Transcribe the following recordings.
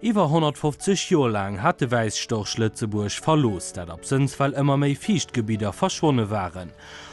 Iwwer 150 Joer laang hat de Wäisstorch Lëtzebuerg verlooss, dat absënns well ëmmer méi Fiichtgebidder verschwonne waren.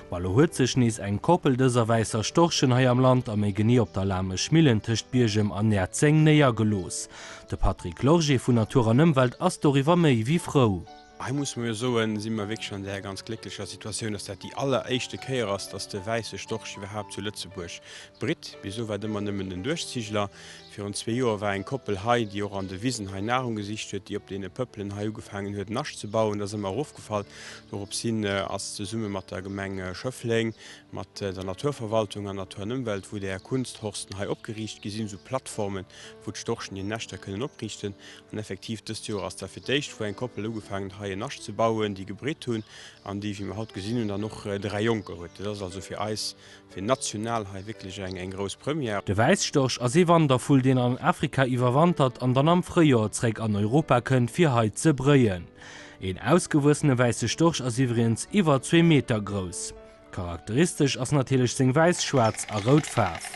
Ma lo huet sech nees eng Koppel dëser wäisser Storchen hei am Land, a méi genee op der Lamesch Millen tëscht Biergem an Näerzeng néiergelooss. De Patrick Lorgé vun Natur an Ëmwelt ass doriwwer méi wéi frou. Hei musse mer jo soen, si mer wierklech an där ganz glécklecher Situatioun, dass dat déi alleréischte Kéier ass, dass de Wäisse Storch iwwerhaapt zu Lëtzebuerg britt. Bis elo war et ëmmer nëmmen den Duerchziegler. Virun zwee Joer war eng Koppel hei, déi och an de Wisen hei Nahrung gesicht huet, déi op deene Pëppelen hei ugefaangen huet, en Nascht ze bauen. Dat ass ëmmer erofgefall. Dorops hin ass zesumme mat der Gemeng Schëffleng, mat der Naturverwaltung an Natur an Ëmwelt, wou där Kunsthorsten hei opgeriicht gi sinn, esou Plattformen, wou d'Storchen hir Näschter kënnen opriichten. An effektiv, dëst Joer ass da fir d'éischt, wou eng Koppel ugefaangen huet, hei en Nascht ze bauen, déi gebritt hunn an déi, wéi mer haut gesinn hunn, dann och dräi Jonker huet. Dat ass also fir eis, fir national hei wierklech eng grouss Première. De Wäisstorch ass ee Wandervull, deen an Afrika iwwerwantert an dann am Fréijoer zréck an Europa kënnt, fir hei ze bréien. Een ausgewuessene wäisse Storch ass iwwregens iwwer zwee Meter grouss. Charakteristesch ass natierlech seng wäiss, schwaarz a rout Faarf.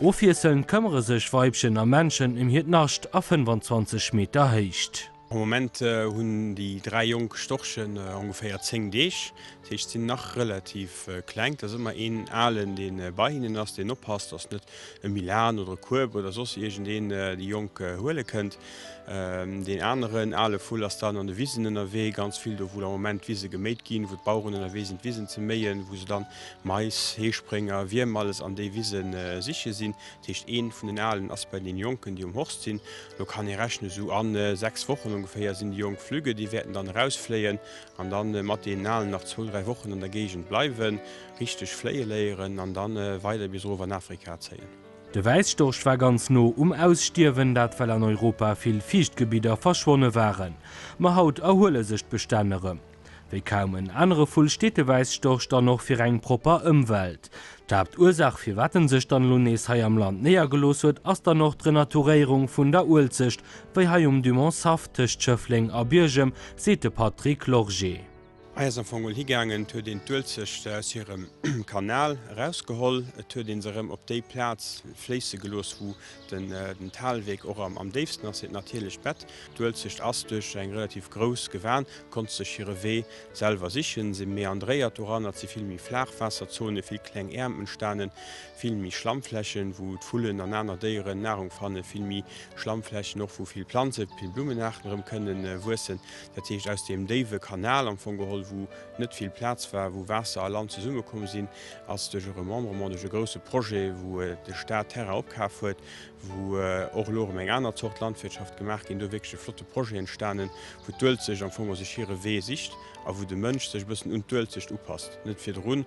Ofwiesselnd këmmere sech Weibchen a Männchen ëm hiert Nascht a 25 Meter Héicht. Am Moment hunn déi dräi jonk Storchen ongeféier 10 Deeg, dat heescht sinn nach relativ kleng. Et ass ëmmer een Alen, dee bei hinnen ass, deen oppasst, dass net e Milan oder e Kueb oder soss iergendeen déi Jonk huele kënnt. Deen aneren ale Vull ass dann an de Wisen ënnerwee, ganz vill do, wou am Moment d'Wise geméit ginn, wou d'Baueren ënnerwee sinn, d'Wisen ze méien, wou se dann Mais, Heesprénger, Wierm alles an déi Wise siche sinn. Dat heescht, ee vun den Alen ass bei den Jonken, déi um Horst sinn. Elo kann ee rechnen, esou a sechs Wochen ongeféier sinn déi Jonk flügge. Déi wäerten dann erausfléien an da mat deenen Alen nach zwou, dräi Wochen an der Géigend bleiwen, richteg fléie léieren an da weider bis erof an Afrika zéien. De Wäisstorch war ganz no um Ausstierwen, dat well an Europa vill Fiichtgebidder verschwonne waren. Ma haut erhuele sech d'Bestänn erëm. Wéi kaum en anere Vull steet de Wäisstorch dann och fir eng propper Ëmwelt. D'Haaptursaach firwat en sech dann elo nees hei am Land néiergelooss huet, ass dann och d'Renaturéierung vun der Uelzecht, wéi hei um Dumont Saff tëscht Schëffleng a Biergem, seet de Patrick Lorgé. Hei ass am Fong mol higaangen, et huet een d'Uelzechte aus hirem Kanal erausgeholl, et huet ee se erëm op déi Plaz fléisse gelooss, wou den Talweg och am déifsten ass, hiert natierlecht Bett. D'Uelzecht ass duerch eng relativ grouss Gewan, konnt sech hire Wee selwer sichen, si meandréiert doran, et si vill méi flaach Waasserzone, vill kleng Äerm entstanen, vill méi Schlammflächen, wou d'Vullen an aner Déieren Nahrung fannen, vill méi Schlammflächen och, wou vill Planzen, vill Blummenaarten erëm kënnen wuessen. Dat heescht aus deem déiwe Kanal am Fong geholl, wou net vill Plaz war, wou Waasser a Land zesummekomm sinn, ass duerch e Remembrement, duerch e grousse Projet, wou de Staat Terrain opkaf huet, wou och elo erëm eng aner Zort Landwirtschaft gemaach ginn do, wierklech e flotte Projet entstanen, wou d'Uelzecht am Fong och sech hire Wee sicht a wou de Mënsch sech e bëssen un d'Uelzecht upasst, net virdrun.